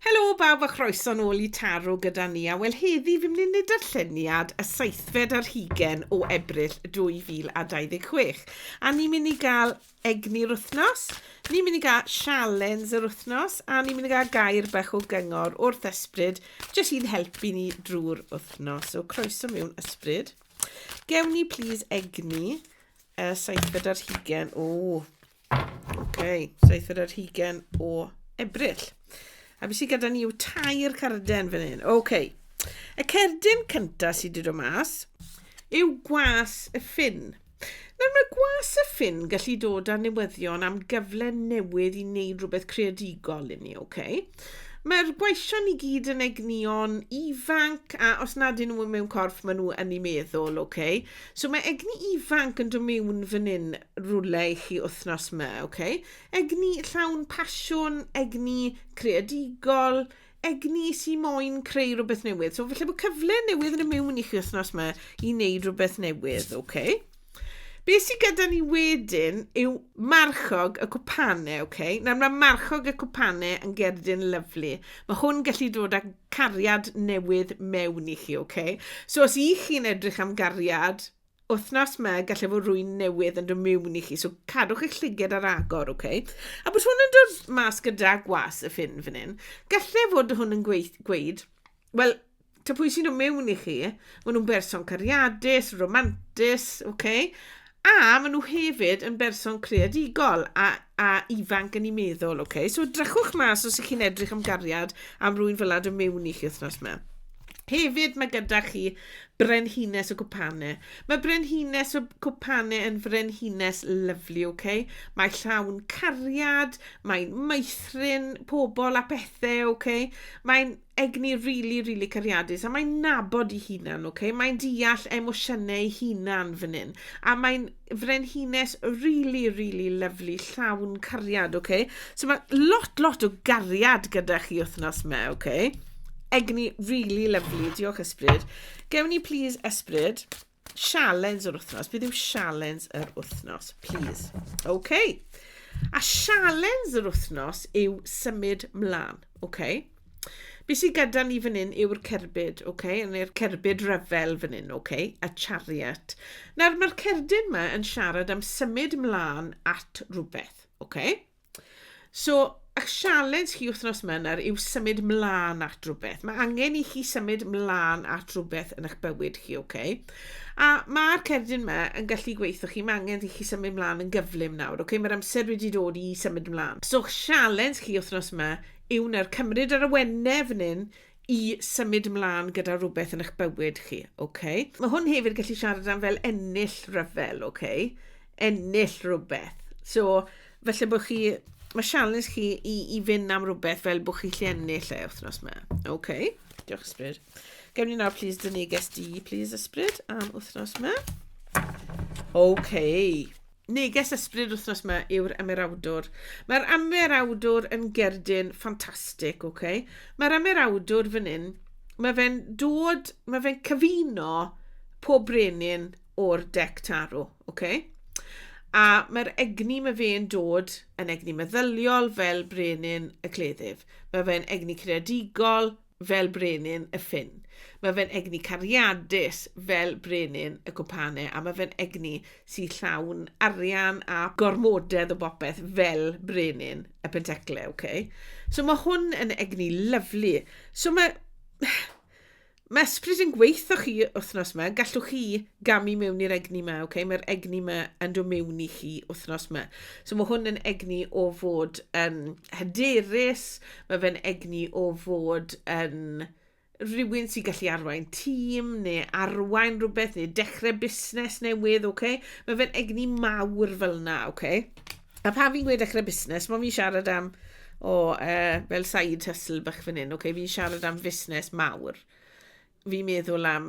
Helo bawb a chroeso'n ôl i Taro gyda ni a wel heddi fi'n mynd i wneud darlleniad y seithfed ar hugen o Ebrill 2026 a ni'n mynd i gael egni'r wythnos, ni'n mynd i gael sialens yr wythnos a ni'n mynd i gael gair bach o gyngor wrth ysbryd jyst i'n helpu ni drwy'r wythnos. So croeso mewn ysbryd. Gewn ni plis egni y seithfed ar hugen o Ok, seithfed ar hugen o Ebrill. A fi sy'n gyda ni yw tair carden fan hyn. Ok. Y cerdyn cyntaf sydd wedi dod mas yw gwas y ffin. Nawr mae gwas y ffin gallu dod â newyddion am gyfle newydd i wneud rhywbeth creadigol i ni, ok? Mae'r gweision i gyd yn egnion ifanc a os nad yn nhw mewn corff maen nhw yn ei meddwl, ok? So mae egni ifanc yn dod mewn fan hyn rwle i chi wythnos ma, ok? Egni llawn pasiwn, egni creadigol, egni sy'n moyn creu rhywbeth newydd. So felly bod cyfle newydd yn y mewn i chi wythnos ma i wneud rhywbeth newydd, ok? Be sy'n gyda ni wedyn yw marchog y cwpane, ok? Nawr mae marchog y cwpane yn gerdyn lyflu. Mae hwn gallu dod â cariad newydd mewn i chi, ok? So os i chi'n edrych am gariad, wythnos 'ma gallai fod rwy'n newydd yn dod miwn i chi, so cadwch eich llyged ar agor, oce? Okay? A bod hwn yn dod mas gyda gwas y ffin fan hyn, gallai fod hwn yn gweud, gweud wel, ta pwy sy'n dod miwn i chi, maen nhw'n berson cariadus, romantus, oce? Okay? A maen nhw hefyd yn berson creadigol a, a ifanc yn ei meddwl, oce? Okay? So drychwch mas os ych chi'n edrych am gariad am rwy'n fel ad y miwn i chi wythnos yma. Hefyd mae gyda chi Brenhines y cwpane. Mae brenhines y cwpane yn frenhines lyfli, ok? Mae llawn cariad, mae'n meithrin pobl a pethau, ok? Mae'n egni rili, really, rili really cariadus a mae'n nabod ei hunan, ok? Mae'n deall emosiynau ei hunan fan hyn a mae'n frenhines rili rili lyfli llawn cariad oce so ma' lot lot o gariad gyda chi wythnos 'ma oce egni rili lyfli diolch ysbryd gewn ni plîs ysbryd sialens yr wythnos beth yw sialens yr wythnos plîs oce a sialens yr wythnos yw symud mlan oce Be sydd gyda ni fan hyn yw'r cerbyd, oce, okay? neu'r cerbyd rhyfel fan hyn, oce, okay? a chariot. Nawr, mae'r cerdyn yma yn siarad am symud ymlaen at rhywbeth, oce? Okay? So, a sialens chi wythnos yma nawr yw symud mlaen at rhywbeth. Mae angen i chi symud mlaen at rhywbeth yn eich bywyd chi, oce? Okay? A mae'r cerdyn yma yn gallu gweithio chi, mae angen i chi symud mlaen yn gyflym nawr, oce? Okay? Mae'r amser wedi dod i symud mlaen. So, sialens chi wythnos yma yw wne'r cymryd yr awenau fan hyn i symud mlaen gyda rhywbeth yn eich bywyd chi, ok? Mae hwn hefyd gallu siarad am fel ennill rhyfel, ok? Ennill rhywbeth. So, felly bod chi, mae sialens chi i, i fynd am rhywbeth fel bod chi lle ennill e wythnos yma, ok? Diolch ysbryd. Gewn ni nawr, please, dyn neges di, please, ysbryd, am wythnos yma. Ok. Neges Ysbryd wythnos yma yw'r Ymerawdwr. Mae'r Ymerawdwr yn gerdyn ffantastig, oce? Okay? Mae'r Ymerawdwr fan hyn, mae fe'n dod, mae fe'n cyfuno pob brenin o'r dec tarw, oce? Okay? A mae'r egni mae fe'n dod yn egni meddyliol fel brenin y cleddyf. Mae fe'n egni creadigol, fel brenin y ffin. Mae fe'n egni cariadus fel brenin y cwmpanau a mae fe'n egni sy'n llawn arian a gormodedd o bopeth fel brenin y penteclau, oce? Okay? So mae hwn yn egni lyflu. So mae... Mae ysbryd yn gweithio chi wythnos yma, gallwch chi gamu mewn i'r egni yma, okay? mae'r egni yma yn dod mewn i chi wythnos yma. So mae hwn yn egni o fod yn hyderus, Mae fe'n egni o fod yn rhywun sy'n gallu arwain tîm neu arwain rhywbeth neu dechrau busnes newydd, oce? Okay? Mae fe'n egni mawr fel yna, oce? Okay? A pan fi'n gweud dechrau busnes, mae fi'n siarad am o uh, fel side hustle bach fan hyn, okay? fi'n siarad am fusnes mawr. Fi'n meddwl am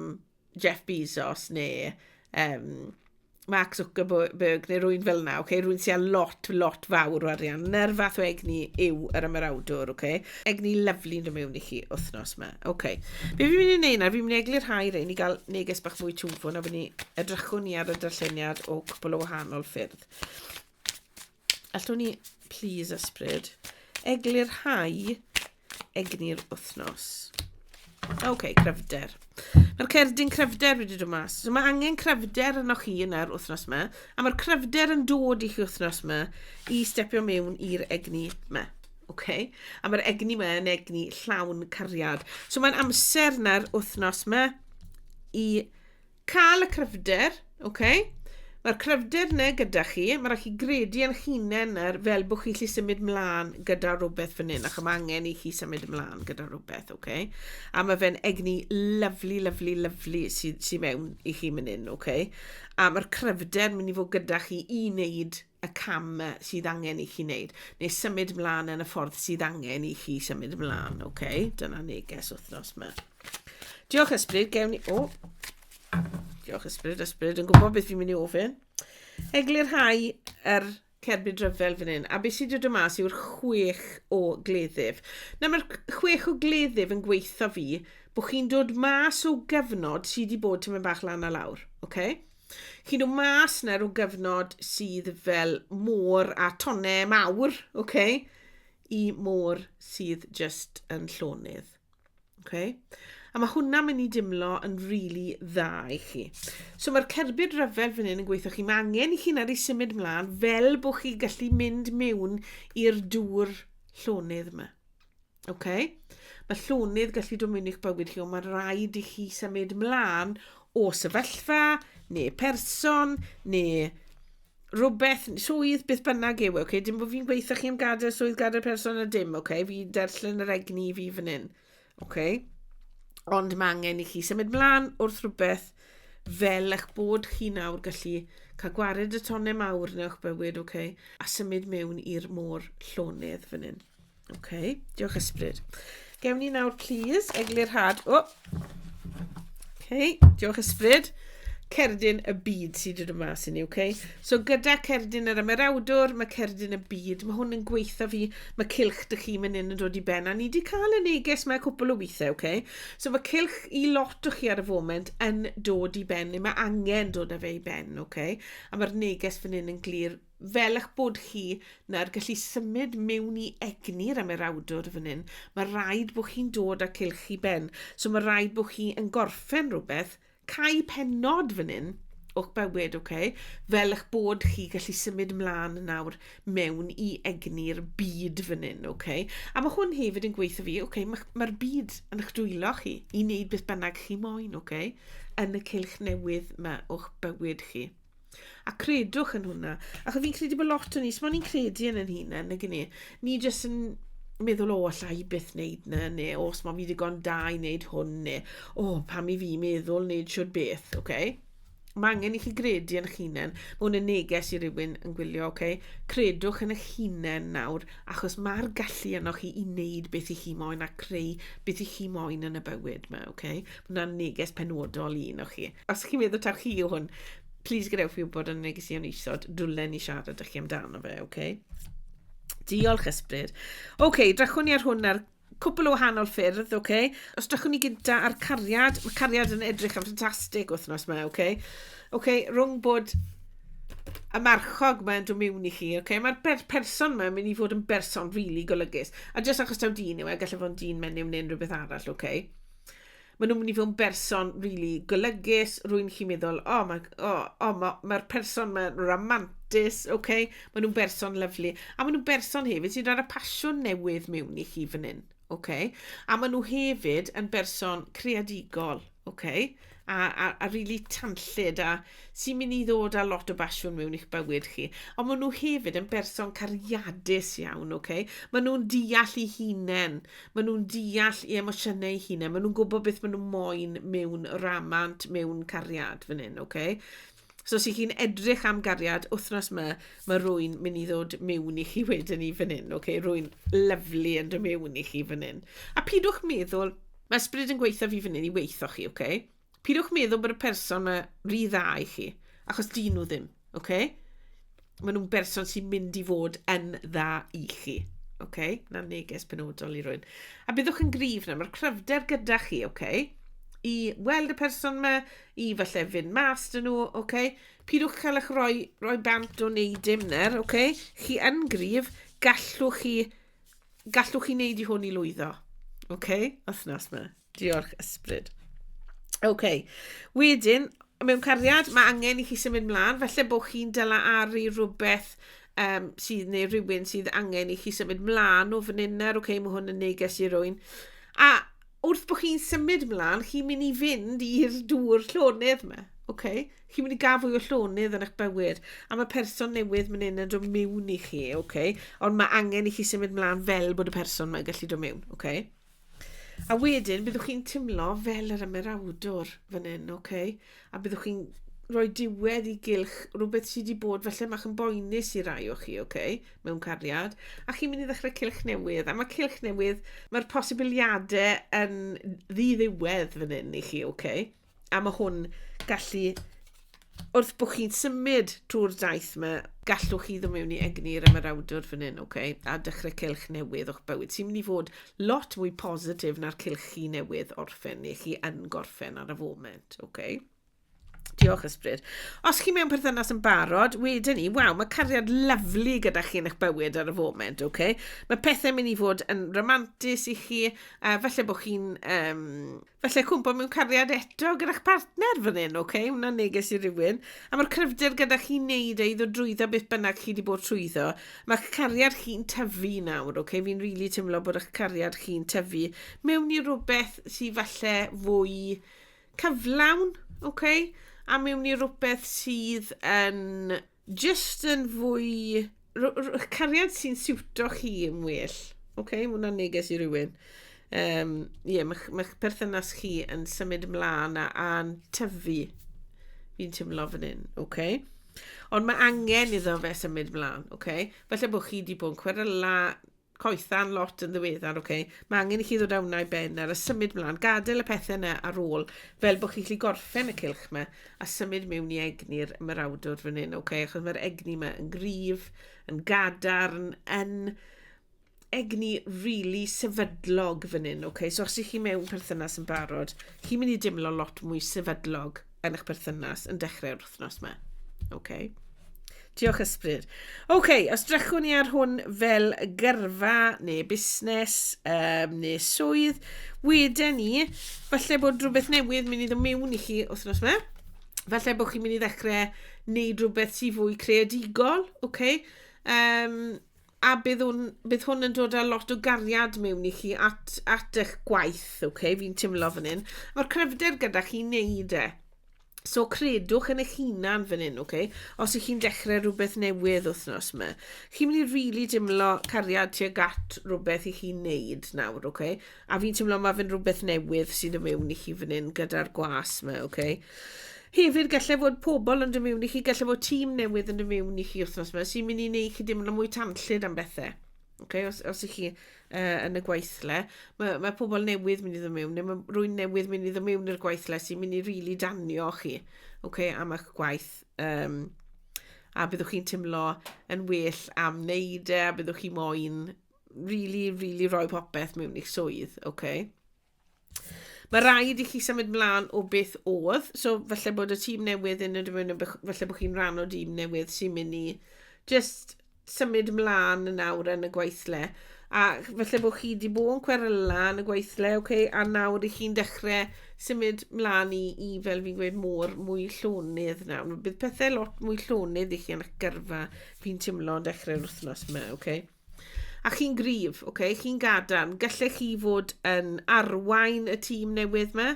Jeff Bezos neu um, Mark Zuckerberg neu rwy'n fel yna, okay? rwy'n sy'n â lot, lot fawr o arian. Na'r fath o egni yw yr ymarawdwr, okay? egni lyflu'n dod mewn i chi wythnos yma. Okay. Be fi'n mynd i wneud nawr, fi'n mynd i eglu'r rhai rei ni gael neges bach mwy twfwn a bod ni edrychwn ni ar y darlleniad o cwbl o wahanol ffyrdd. Allwn ni, please ysbryd, eglu'r rhai egni'r wythnos. Oce, okay, cryfder. Mae'r cerdyn cryfder wedi dod mas. So mae angen cryfder yno chi yn yr wythnos yma, a mae'r cryfder yn dod i chi wythnos yma i stepio mewn i'r egni yma. Okay? A mae'r egni yma yn egni llawn cariad. So mae'n amser na'r wythnos yma i Cael y cryfder, ok. Mae'r cryfder yna gyda chi, mae rhaid chi gredu yn hunain nawr fel bod chi lli symud mlaen gyda rhywbeth fan hyn, ac mae angen i chi symud mlaen gyda rhywbeth, ok. A mae fe'n egni lyflu, lyflu, lyflu sydd sy mewn i chi fan hyn, ok. A mae'r cryfder mynd i fod gyda chi i wneud y cam sydd angen i chi wneud, neu symud mlaen yn y ffordd sydd angen i chi symud mlaen, oce? Okay? Dyna neges wythnos yma. Diolch ysbryd, gewn ni... O! Diolch ysbryd, ysbryd yn gwybod beth fi'n mynd i ofyn. Eglurhau yr cerbyd rhyfel fan hyn, a beth sydd wedi dod mas yw'r chwech o gleddyf. Na, mae'r chwech o gleddyf yn gweithio fi bod chi'n dod mas o gyfnod sydd wedi bod tyma'n bach lan a lawr, oce? Okay? Chi nhw mas na rhyw gyfnod sydd fel môr a tonne mawr, okay, i môr sydd just yn llonydd. Okay? A mae hwnna'n mynd i dimlo yn rili really dda i chi. So mae'r cerbyd rhyfel fan hyn yn gweithio chi. Mae angen i chi nad i symud mlaen fel bod chi gallu mynd mewn i'r dŵr llonydd yma. Ok. Mae llonydd gallu dwmyn i'ch bywyd chi, ond mae'n rhaid i chi symud mlaen o sefyllfa, neu person, neu rhywbeth, swydd, beth bynnag yw, e, okay? dim bod fi'n gweithio chi am gadael swydd, gadael person a dim, okay? fi derslen yr egni i fi fan hyn. Okay? Ond mae angen i chi symud mlaen wrth rhywbeth fel eich bod chi nawr gallu cael gwared y tonne mawr yn eich bywyd, okay? a symud mewn i'r môr llonydd fan hyn. OK, diolch ysbryd. Gewn ni nawr, please, eglurhad. O! Oh. OK, diolch ysbryd. Cerdyn y byd sydd wedi dod mas i ni, OK? So gyda cerdyn yr ymerawdwr, mae cerdyn y byd, mae hwn yn gweithio fi, mae cilch dych chi mynd yn dod i ben, a ni wedi cael y neges mae cwpl o weithiau, OK? So mae cilch i lot o chi ar y foment yn dod i ben, neu mae angen dod â fe i ben, OK? A mae'r neges fan hyn yn glir Fel eich bod chi na'r gallu symud mewn i egni'r ymerawdwr fan hyn, mae rhaid bod chi'n dod â cylch i ben. So mae rhaid bod chi yn gorffen rhywbeth, cau penod fan hyn, o'ch bywyd, oce? Okay? Fel eich bod chi gallu symud mlaen nawr mewn i egni'r byd fan hyn, oce? Okay? A mae hwn hefyd yn gweithio fi, oce, okay, mae'r ma byd yn eich dwylo chi i wneud beth bynnag chi moyn, oce? Okay? Yn y cylch newydd mae o'ch bywyd chi. A credwch yn hwnna. Achos fi'n credu bod lot o ni, sbon ni'n credu yn yn hunain, nag ni? Ni jyst yn meddwl, o, alla i byth wneud na, neu o, os mae fi ddigon da i wneud hwn, neu o, pam i fi meddwl wneud siwr beth, oce? Okay? Mae angen i chi gredu yn eich hunain. Mae hwn yn neges i rywun yn gwylio, oce? Okay? Credwch yn eich hunain nawr, achos mae'r gallu yno chi i wneud beth i chi moyn a creu beth i chi moyn yn y bywyd yma, oce? Okay? Hwna'n neges penodol i un o chi. Os chi'n meddwl taw chi yw hwn, plis gadewch fi wybod yn y negeseuon isod, dwlen ni siarad â chi amdano fe, oce? Okay? Diolch, Ysbryd. Oce, okay, drachwn ni ar hwn ar cwpl o wahanol ffyrdd, oce? Okay? Os drachwn ni gyda ar cariad, mae cariad yn edrych yn ffantastig wythnos yma, oce? Okay? Oce, okay, rhwng bod y marchog mae'n dod mewn i chi, oce? Okay? Mae'r per person mae'n mynd i fod yn berson rili really golygus. A jyst achos taw dyn yw e, gallai fod yn dyn menyw neu unrhyw beth arall, oce? Okay? maen nhw'n mynd i fod yn berson really golygus, rwy'n chi'n meddwl, o, oh, mae'r oh, oh, ma, ma person mae'n romantis, oce, okay? maen nhw'n berson lyflu. A maen nhw'n berson hefyd sy'n rhaid y pasiwn newydd mewn i chi fan hyn, oce? Okay? A maen nhw hefyd yn berson creadigol, oce? Okay? a, a, a rili really tanllyd a sy'n mynd i ddod â lot o basiwn mewn i'ch bywyd chi. Ond maen nhw hefyd yn berson cariadus iawn, oce? Okay? Maen nhw'n deall i hunain, maen nhw'n deall i emosiynau i hunain, maen nhw'n gwybod beth maen nhw'n moyn mewn ramant, mewn cariad fan hyn, oce? Okay? So os 'y chi'n edrych am gariad wythnos 'ma, mae rhywun mynd i ddod mewn i chi wedyn i fan hyn, ok? Rhywun lyfli yn dod mewn i chi fan hyn. A pidwch meddwl, mae ysbryd yn gweithio fi fan hyn i weithio chi, ok? Pidwch meddwl bod y person 'ma rhy dda i chi, achos dyn nhw ddim, ok? maen nhw'n berson sy'n mynd i fod yn dda i chi. Oce, okay? na neges penodol i rwy'n. A byddwch yn grif na, mae'r cryfder gyda chi, oce? Okay? I weld y person yma, i falle fynd mas dyn nhw, oce? Okay? Pidwch cael eich roi, roi bant o wneud dim ner, oce? Okay? Chi yn grif, gallwch chi, gallwch chi wneud i hwn i lwyddo. Oce, okay? os nas yma. Diolch, ysbryd. OK. Wedyn, mewn cariad, mae angen i chi symud mlaen. Felly bod chi'n dyla ar i rhywbeth um, sydd neu rhywun sydd angen i chi symud mlaen o fan hyn nawr. OK, mae hwn yn neges i rwy'n. A wrth bod chi'n symud mlaen, chi'n mynd i fynd i'r dŵr llonydd yma. Okay. Chi'n mynd i gael fwy o llonydd yn eich bywyd. A mae person newydd mynd yn dod mewn i chi. Okay. Ond mae angen i chi symud mlaen fel bod y person mae'n gallu dod mewn. Okay. A wedyn, byddwch chi'n timlo fel yr ymerawdwr fan hyn, oce? Okay? A byddwch chi'n rhoi diwedd i gylch rhywbeth sydd wedi bod felly mach yn boenus i rai o chi, oce? Okay? Mewn cariad. A chi'n mynd i ddechrau cylch newydd. A mae cylch newydd, mae'r posibiliadau yn ddiddiwedd fan hyn i chi, oce? Okay? A mae hwn gallu, wrth bod chi'n symud trwy'r daith yma, gallwch chi ddim mewn i egni yr ymarawdwr fan hyn, okay? a dechrau cylch newydd o'ch bywyd sy'n mynd i fod lot mwy positif na'r cylch chi newydd orffen neu chi yn gorffen ar y foment. Okay? Diolch ysbryd. Os chi mewn perthynas yn barod, wedyn ni, waw, mae cariad lyflu gyda chi yn eich bywyd ar y foment, oce? Okay? Mae pethau'n mynd i fod yn romantis i chi, uh, felly bod chi'n um, Felly cwmpo mewn cariad eto gyda'ch partner fan hyn, oce? Okay? Wna neges i rywun. A mae'r cryfder gyda chi wneud e i ddod drwyddo beth bynnag chi wedi bod trwyddo. Mae'ch cariad chi'n tyfu nawr, oce? Okay? Fi'n rili really teimlo bod eich cariad chi'n tyfu mewn i rhywbeth sy'n falle fwy cyflawn, oce? Okay? A mewn i rhywbeth sydd yn Just yn fwy... cariad sy'n siwto chi yn well. Oce, okay, mae hwnna'n neges i rywun. Um, yeah, mae'ch ma perthynas chi yn symud ymlaen a, a'n tyfu. Fi'n teimlo fan hyn, oce? Okay? Ond mae angen iddo fe symud ymlaen, oce? Okay? Felly bod chi wedi bod yn cwrdd la coethan lot yn ddiweddar, oce. Mae angen i chi ddod â hwnna i ben ar a symud mlaen. Gadael y pethau yna ar ôl, fel bod chi'n gallu gorffen y cilch yma, a symud mewn i egni'r ymarawdwr fan hyn, oce. Achos mae'r egni yma yn gryf, yn gadarn, yn egni rili really sefydlog fan hyn, oce. So os ych chi mewn perthynas yn barod, chi'n mynd i dimlo lot mwy sefydlog. yn eich perthynas yn dechrau'r wythnos yma. OK. Diolch ysbryd. OK, os drechwn ni ar hwn fel gyrfa neu busnes um, neu swydd, wedyn ni, falle bod rhywbeth newydd mynd i ddod mewn i chi wythnos yma. Falle bod chi'n mynd i ddechrau wneud rhywbeth sy'n fwy creadigol, OK? Um, a bydd hwn, bydd hwn yn dod â lot o gariad mewn i chi at, at eich gwaith, okay? fi'n timlo fan hyn. Mae'r cryfder gyda chi wneud e. So credwch yn eich hunan fan hyn, okay? os ych chi'n dechrau rhywbeth newydd wythnos yma. Chi'n mynd i rili really dimlo cariad tuag at rhywbeth i chi'n neud nawr, okay? A fi'n teimlo mae fe'n rhywbeth newydd sydd yn mewn i chi fan hyn gyda'r gwas yma, oce? Okay? Hefyd, gallai fod pobl yn dod mewn i chi, gallai fod tîm newydd yn dod mewn i chi wythnos yma, sy'n mynd i wneud chi deimlo mwy tanllyd am bethau. Okay? Os, os ych chi uh, yn y gweithle, mae, mae pobl newydd mynd i ddod mewn, neu mae rwy'n newydd mynd i ddod mewn i'r gweithle sy'n mynd i rili really danio chi okay, am eich gwaith. Um, a byddwch chi'n teimlo yn well am wneud e, a byddwch chi moyn rili, rili rhoi popeth mewn i'ch swydd, oce? Okay? Mae rhaid i chi symud mlaen o beth oedd, so felly bod y tîm newydd yn y dymwyn, felly bod chi'n rhan o dîm newydd sy'n mynd i just symud mlaen yn awr yn y gweithle. A felly bod chi wedi bod yn cweryla yn y gweithle, okay, a nawr i chi'n dechrau symud mlaen i, i fel fi'n gweud, môr mwy llonydd nawr. Bydd pethau lot mwy llonydd i chi yn eich gyrfa fi'n teimlo dechrau'r wythnos yma, okay? A chi'n gryf, ok, chi'n gadarn. Gallech chi fod yn arwain y tîm newydd yma,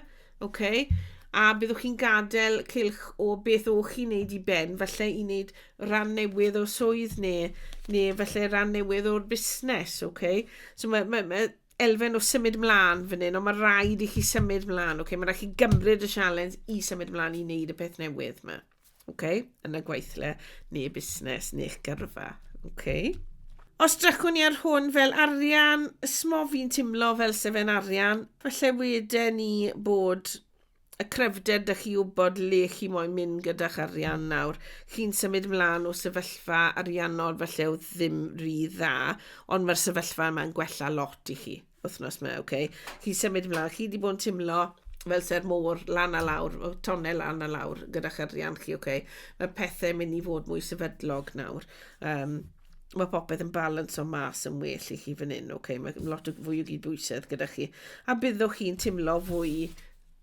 ok, a byddwch chi'n gadael cilch o beth o'ch chi'n neud i ben, falle i wneud rhan newydd o swydd neu, neu falle rhan newydd o'r busnes, ok. So mae, mae, mae elfen o symud mlaen fan hyn, ond mae rhaid i chi symud mlaen, ok. Mae rhaid chi gymryd y sialens i symud mlaen i wneud y peth newydd yma. okay, yn y gweithle neu busnes neu'ch gyrfa. Okay. Os drychwn ni ar hwn fel arian, ysmo fi'n timlo fel sefen arian, falle wede ni bod y cryfder dych chi wybod le chi moyn mynd gyda'ch arian nawr. Chi'n symud mlaen o sefyllfa ariannol falle o ddim rhy dda, ond mae'r sefyllfa yma'n gwella lot i chi. wythnos yma, oce. Okay. Chi'n symud ymlaen, chi wedi bod yn timlo fel se'r môr lan a lawr, o tonne lan a lawr gyda'ch arian chi, oce. Okay. Mae pethau'n mynd i fod mwy sefydlog nawr. Um, mae popeth yn balans o mas yn well i chi fan hyn, oce. Okay. Mae lot o fwy o gyd bwysedd gyda chi. A byddwch chi'n timlo fwy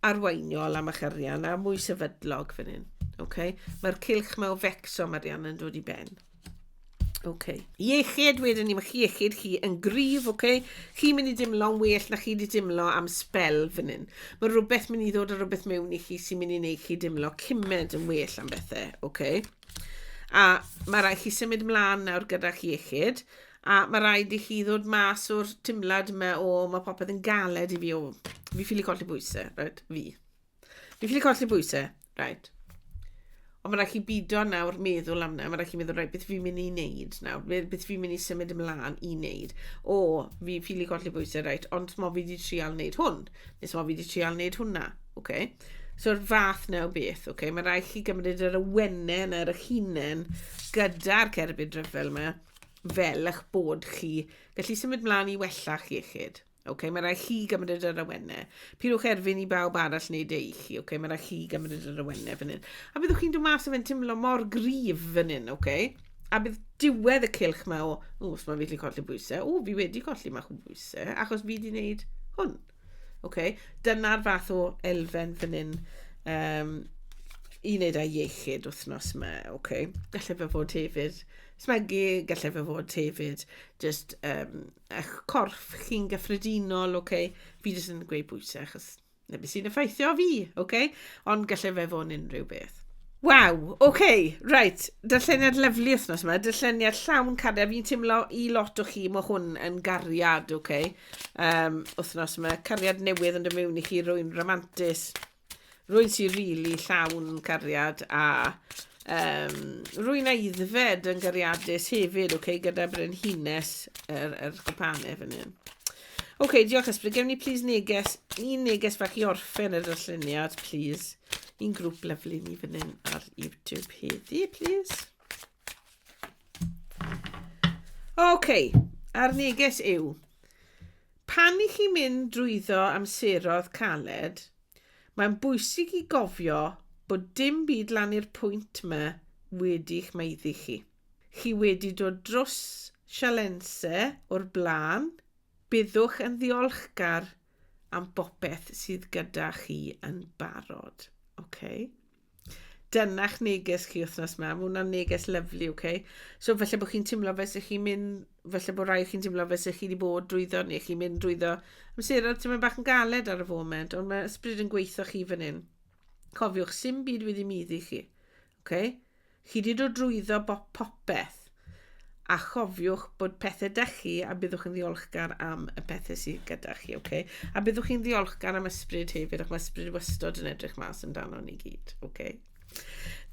arweiniol am eich arian a mwy sefydlog fan hyn, oce. Okay. Mae'r cilch mae o fecsom arian yn dod i ben. OK. Iechyd, wedyn ni, mae chi iechyd chi yn gryf, OK? Chi'n mynd i dimlo'n well na chi wedi dimlo am spel fan hyn. Mae rhywbeth mynd i ddod o rhywbeth mewn i chi sy'n mynd i wneud chi dimlo cymed yn well am bethau, OK? A mae rhaid chi symud ymlaen nawr gyda'ch iechyd, a mae rhaid i chi ddod mas o'r timlad yma o mae popeth yn galed i fi o fi ffili colli bwysau, right? fi. Fi'n ffili colli bwysau. Right. Ond mae'n rhaid chi bido nawr meddwl am na. Mae'n rhaid chi meddwl, right, beth fi'n mynd i wneud nawr? Beth fi'n mynd i symud ymlaen i wneud? O, fi ffili colli bwysau, right, ond mo fi wedi trial wneud hwn. Nes mo fi wedi trial wneud hwnna. Okay. So'r fath na o beth, okay. Mae'n rhaid chi gymryd yr awenen ar eich hunain gyda'r cerbyd rhyfel yma fel eich bod chi gallu symud mlaen i wella'ch iechyd. Ok, mae rhaid chi gymryd yr awenne. Pidwch erfyn i bawb arall wneud ei chi. Ok, mae rhaid chi gymryd yr awenne fan hyn. A byddwch chi'n dod mas o fe'n teimlo mor grif fan hyn, ok? A bydd diwedd y cilch ma o, o, os mae fi wedi colli bwysau, o, fi wedi colli mach o bwysau, achos fi wedi wneud hwn. Ok, dyna'r fath o elfen fan hyn um, i wneud â iechyd wythnos yma, ok? Gallai fe fod hefyd smygu, gallai fe fod hefyd just um, eich corff chi'n gyffredinol, oce? Okay? Fi jyst yn gweud bwyta, achos na beth sy'n effeithio fi, oce? Okay? Ond gallai fe fod yn unrhyw beth. Waw, oce, okay, reit, dylleniad lyflu wythnos yma, dylleniad llawn cariad, fi'n teimlo i lot o chi, mae hwn yn gariad, oce, okay? um, wythnos yma, cariad newydd yn dod mewn i chi, rwy'n romantis, Rwyt ti rili llawn cariad a um, rwy'n eiddfed yn gariadus hefyd, ok, gyda brenhines yr, yr cwpanau fan hyn. Ok, diolch Ysbryd. Gewn ni please neges, un neges bach i orffen yr lluniad, please. Un grŵp lyflu ni fan hyn ar YouTube heddi, please. OK, a'r neges yw, pan i chi'n mynd drwyddo amseroedd caled, mae'n bwysig i gofio bod dim byd lan i'r pwynt yma wedi'ch maeddu chi. Chi wedi dod drws sialense o'r blaen, byddwch yn ddiolchgar am bopeth sydd gyda chi yn barod. Okay? Dyna'ch neges chi wythnos yma. Mae hwnna'n neges lyflu, oce? Okay? So falle bod chi'n teimlo fe sy'ch chi'n mynd, falle bod rai chi'n teimlo fe sy'ch chi wedi bod drwyddo neu chi'n mynd drwyddo amseroedd ti'n mynd bach yn galed ar y foment, ond mae ysbryd yn gweithio chi fan hyn. Cofiwch, sy'n byd wedi muddi chi. Okay? Chi 'di dod drwyddo bop popeth, a chofiwch bod pethe 'da chi a byddwch yn ddiolchgar am y pethe sydd gyda chi, oce? A byddwch chi'n ddiolchgar am ysbryd hefyd, ac mae ysbryd wastod yn edrych mas amdano ni gyd, oce?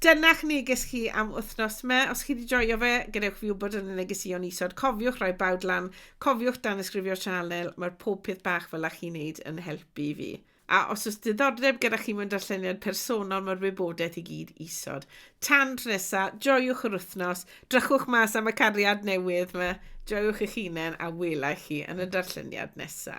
Dyna'ch neges chi am wythnos me. Os chi wedi joio fe, gadewch fi wybod yn y negeseuon isod. Cofiwch roi bawd lan, cofiwch dan ysgrifio'r sianel, mae'r pob peth bach fel a chi'n neud yn helpu fi. A os oes diddordeb gyda chi mewn darlleniad personol, mae'r wybodaeth i gyd isod. Tan tro nesa, joiwch yr wythnos, drychwch mas am y cariad newydd yma, joiwch eich hunain a welai chi yn y darlleniad nesa.